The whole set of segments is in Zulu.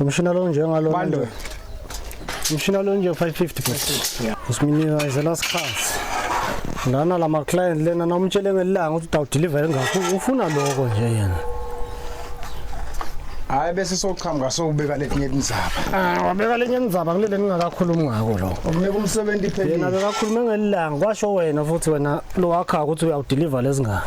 Umshina lo njengalona Bandwe. nje. Umshina lo nje 550 bhuti. Yeah. Usiminika is the last class. Lana lama client lena namtshele ngelanga ukuthi utawudeliver ngakho ufuna lokho nje yena. Hayi bese soqhamuka sokubeka letinye indzaba. Ah wabeka lenye indzaba kulele ningakakhulumi ngako lo. Ukunike umsebenzi Yena iphelile. bekakhuluma ngelanga kwasho wena futhi wena lo wakha ukuthi uyawudeliver lezingane.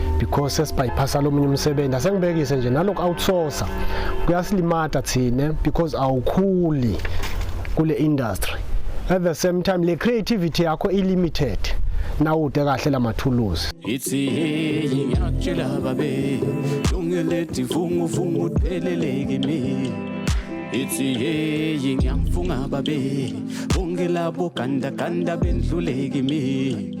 because sesibyphasa lomunye umsebenzi asengibekise nje naloku outsourcer kuyasilimata thina because awukhuli kule industry at the same time le creativity yakho i limited nawude kahle lamathuluzi ithi hey ngiyakutshela babe lungelethi vungu vungu deleleke mina ithi hey ngiyamfunga babe bonke labo ganda ganda bendluleke mina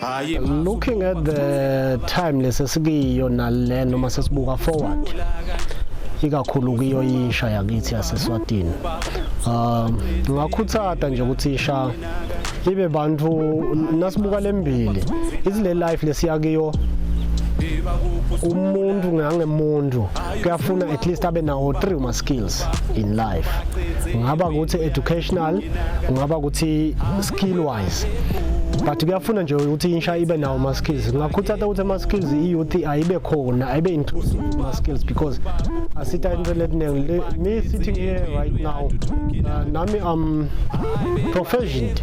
hayi looking at the time lesesikiyo nale noma sesibuka forward ikakhulu kuyo isha yakithi yaseswatini um ngakhuthata nje ukuthi isha ibe bantu nasibuka lembili izile life lesiyakiyo umuntu ngangemuntu kuyafuna at least abe nawo three ma skills in life ngaba ukuthi educational ngaba ukuthi skill wise but kuyafuna nje ukuthi insha ibe nawo ma skills ngakhuthata ukuthi ama skills i youth ayibe khona ayibe inclusive ma skills because asita into letiningi me sitting here right now uh, nami am proficient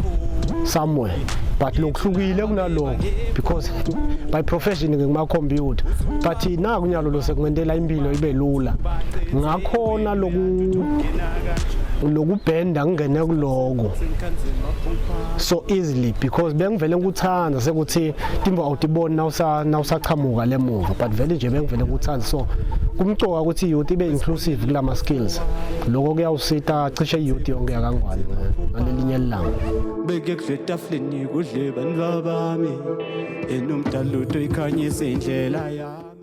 somewhere but lokuhlukile kunaloko because by profession ngikumakhompyutha but naku nyalo lo sekumentela impilo ibe lula ngakhona loku lokubhenda ngingene kuloko so easily because bengivele ngikuthanda sekuthi timba awutiboni nawusaqhamuka le muva but vele nje bengivele ngikuthanda so kumcoka ukuthi youth ibe inclusive kula ma skills lokho kuyawusita cishe youth yonke yakangwane ngalelinye lilanga beke kudle tafuleni kudle bantu babami enomdalutho ikhanyise indlela yami